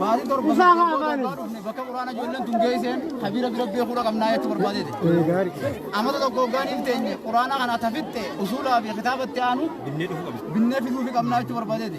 Baatii torba Isaa haa booda afaaniin. abbaa dhufne bakka quraana ijoolleen tun geesseen kabira bira beekuudha qabnaa jechuu barbaadete. Amata tokko hoggaan hin teenye quraana kana tafitte usuulaa fi kitaabatti aanu binnee fiduufi qabnaa jechuu barbaadete.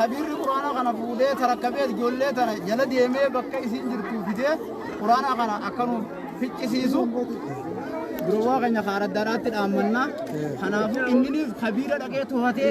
Kabirri quraana kana fuudhee tarakkabee ijoollee tana jala deemee bakka isiin jirtu fidee quraana kana akka nuuf ficcisiisu durowaa keenya kaaraddaadhaatti dhaammannaa. Kanaafuu inninis kabiira dhaqee to'atee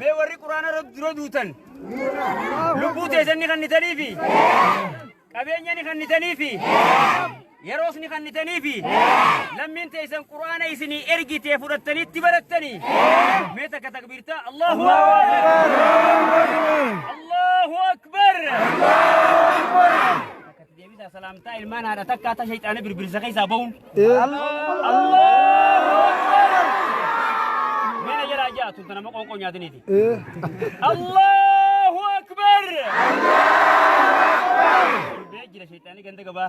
Mee warri quraana irratti dura duutan lubbuu teessan ni kannitaniifi qabeenya ni kannitaniifi Yeroo isin kannitanii fi lammiin teessan quraana isinii ergitee fudhattanitti barattanii mee takka takbiirtaa Allahu Akbar Allahu Akbar Takkatti deebisaa salaamtaa ilmaan haadha takkaa ta shayxaana birbirsa keessaa ba'uun Allahu Akbar Mee na jalaa ja'a tun tanama qoonqoo nyaataniiti Allahu Akbar Allahu Akbar Jira shayxaanii ganda gabaa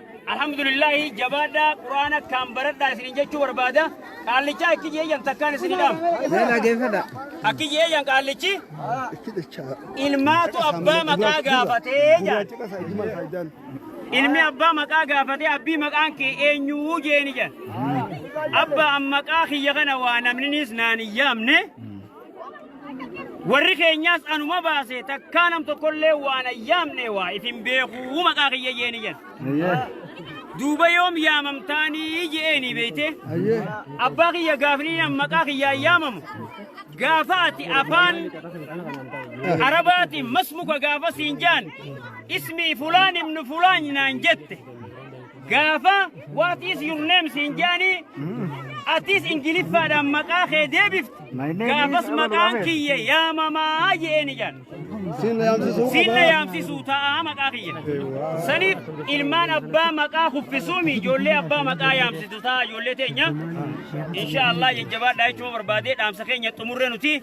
Alhamdulillahi jabaadhaa quraana akkaan baradhaa isinin jechuu barbaada qaallichaa akki jeeyyan takkaan isin hidhaam. Akki jeeyyan qaallichi ilmaatu abbaa maqaa gaafatee jaan. Ilmi abbaa maqaa gaafatee abbii maqaan kee eenyuu jeeni jaan. Abba an maqaa kiyya kana waa namninis naan hin yaamne. Warri keenyaas anuma baase takkaa nam tokkollee waan ayyaamne waa ifin beekuu maqaa kiyya jeeni jedha. Ayyee. Duuba yoom yaamamtaanii je'eeni beeyte. Ayyee. Abbaa kiyya gaafni nam maqaa kiyyaa yaamamu. Gaafa ati afaan Arabaatiin masmuka gaafa siin jaan ismii fulaan ibnu fulaan naan jette. Gaafa what is your name siin jaanii atis ingiliffaadhaan maqaa kee deebifte My name gaafas is Abel maqaan Mohamed. kiyya yaamamaa je'een ijaan Siin na yaamsisuu siin na qabaa. yaamsisuu ta'a maqaa kiyya saniif ilmaan abbaa maqaa kuffisuumi ijoollee abbaa maqaa yaamsitu ta'a ijoollee teenya insha Allah jajjabaadhaa jechuun barbaadee dhaamsa keenya xumurre nuti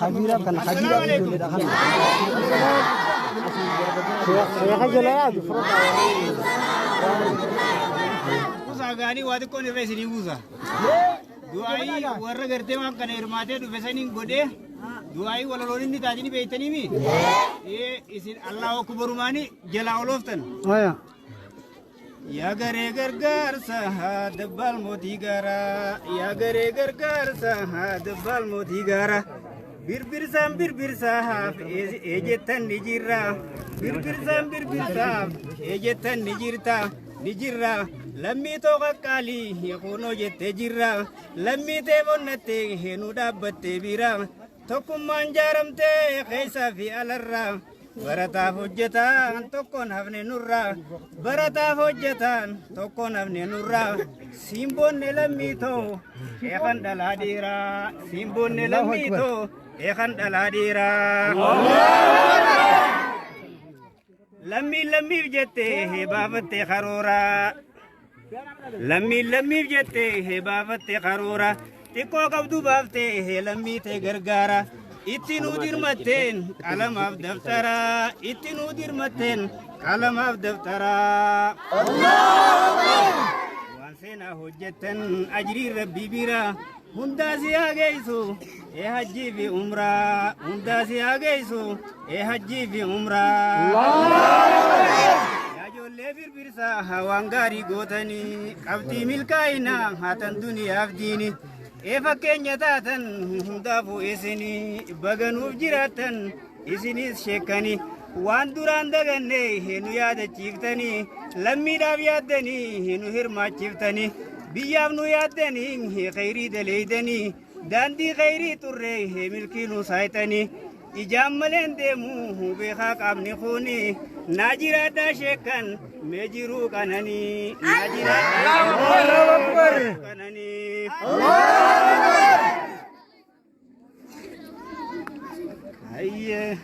Kabiiraaf kana kabiiraaf ijoolleedha kana. Seeqa jala yaadu fura Kuusaa gaarii waa xiqqoon irra isinii buusa. Du'aayii warra gartee waan kana hirmaatee dhufe saniin godhee du'aayii walaloon inni taatini beektaniimi. Ee isin Allahu akbarumaani jalaa olooftan. qabu. Yaa garee gargaarsa haa dabbaal mootii gaara. Yaa garee gargaarsa haa dabbaal mootii gaara. Birbirsaan birbirsaaf eejettan ni jirra. Birbirsaan birbirsaaf eejettan ni jirta. Ni jirra. Lammii too qaqqaalii kunoo jettee jirra. Lammii tee bonnattee heenuu dhaabbattee bira. Tokkummaan jaaramtee keessaa fi alarraa. Barataaf hojjetaan tokkoon hafne nurraa barataaf hojjetaan tokkoon hafne nurraa siimboonne lammii too sheekan dhalaa dhiiraa siimboonne lammii too sheekan dhalaa dhiiraa. Lammiin lammiif jettee baafattee karooraa. Lammiin lammiif jettee hee baafatte karoora xiqqoo qabdu baaftee hee lammii tee gargaara. Itti nuu dirmatteen qalamaaf daftara itti nuu dirmatteen qalamaaf daftara. Waan seenaa hojjettan ajriin rabbii bira hundaa si haa geessu. Ee hajjii fi umraa hundaa si haa geessu. Ee hajjii fi umraa. Yaa ijoollee birbirsa hawaan gaarii gootanii qabxii milkaa'ina haatan duniyaaf diini. Ee fakkeenya taatan hundaafuu isinii baganuuf jiraattan isinis sheekkanii. Waan duraan daganne nu yaadachiiftanii lammiidhaaf yaaddanii nu hirmaachiiftanii biyyaaf nu yaaddanii kheyrii daleeydanii. Daandii khayrii xurree milkii nu saayxanii ijaan maleen deemuu beekaa qaamni kuni naa jiraadhaa sheekkan mee jiruu qananii naa jiraadhaa qananii. Ayyee.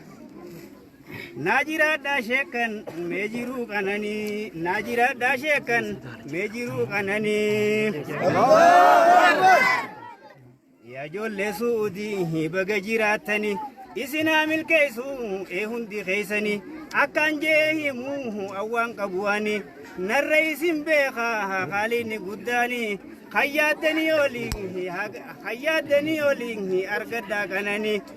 Naa jiraadhaa sheekkan mee jiruu qananii naa jiraadhaa sheekkan mee jiruu qananii. Yaa ijoollee suudii baga jiraattanii isin haa milkeessu ee hundi keessanii akkaan jee himu awwaan qabuwaanii narra isin beeka haaliin guddaanii hayyaaddanii olii hayyaaddanii olii argadhaa qananii.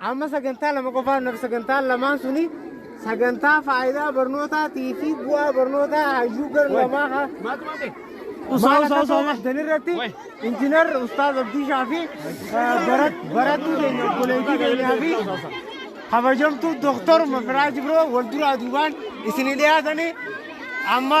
Amma sagantaa lama qofaan naaf sagantaan lamaan suni sagantaa faayidaa barnootaatii fi bu'aa barnootaa hayyuu gar lamaa haa Usaa usaa usaa usaa. Dan irratti injinar Ustaaz Abdiishaa fi barattuu keenya obboleettii keenyaa fi kabajamtuu Dooktor Mafiraaj Biroo wal duraa duubaan isinii dhiyaatanii amma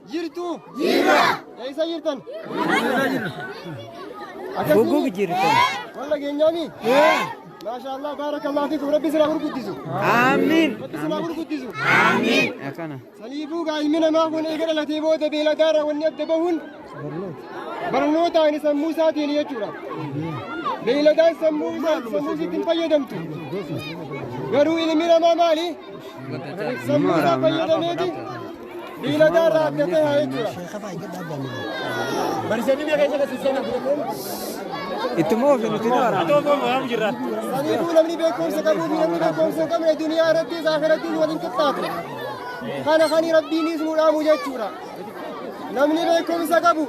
Jirtu. Jirra. Eessa jirtan? Goggoogi jirtan. Walla geenyaami? Maashaallah baarakallah fiikum rabbi sirraa gurguddisu. Aamiin. Rabbi sirraa gurguddisu. Aamiin. Akkana. Saniifuu gaa ilmi namaa kun eega dhalatee booda beeladaarra wanni adda bahuun barnootaan sammuu isaatiin jechuudha. Beeladaan sammuu isaa sammuu isiitti hin fayyadamtu. Garuu ilmi namaa maali? Sammuu isaa fayyadameeti. Beeyladaa irraa adda ta'e haa jechuudha. Bariisanii biyya keessa keessatti seenaa fudhatu. Itti moo ofi nuti daara. Atoo foon waan jirra. Saniifuu namni beekumsa qabuu fi namni beekumsa hin qabne duniyaa irrattis akhirattis waliin qixxaatu. Kana kan rabbiinis nu dhaamu jechuudha. Namni beekumsa qabu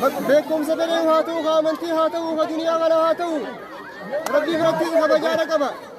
bak- beekumsa fedhee haa ta'u, haa amantii haa ta'u, haa duniyaa kana haa ta'u. Rabbii birattis kabajaadha qaba.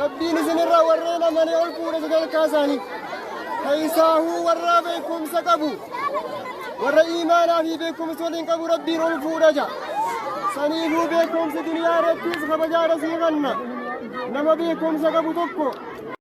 Rabbiin isinirra warreen amane ol fuudhe sadarkaa isaanii keessaahuu warra beekumsa qabu warra iimaanaa fi beekumsa waliin qabu rabbiin ol fuudha ja saniifuu beekumsi duniyaa irrattis kabajaara sii kanna nama beekumsa qabu tokko